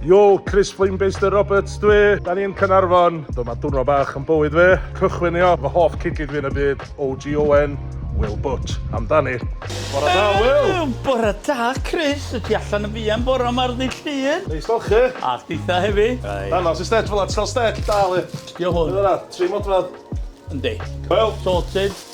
Yo, Chris Flamebaster Roberts dwi. Da ni'n Cynarfon. Dyma dwrnod bach yn bywyd fi. Cychwynio fy hoff cigid fi yn y byd, OGON, Will Butch. Amdani. Bore da, Will! Bore da, Chris. Y ti allan yn fian bore yma'r ddydd llun? Neis fel chi. A chdi'tha hefyd. Right. Danos i stell fel at cael stell, dal i. Dio hwn. Dyna, tri modfedd. Yndi. Coel. Sorted.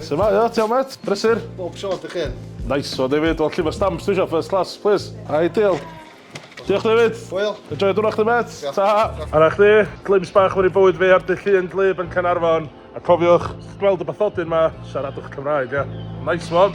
Su'mae, ia, ti iawn mêt? Brysur? Bob tro, dych chi? Nice one David, wel llyfr stamps dwi isio, first class, please. Ai, deal. Diolch David. Hwyl. Enjoy dwrnod chdi mêt. Ta. Ara chdi, glimpse bach mewn i bywyd fi ar dyllu yn glib yn Caernarfon. A cofiwch, gweld y bathodyn ma, siaradwch Cymraeg, ia. Nice one.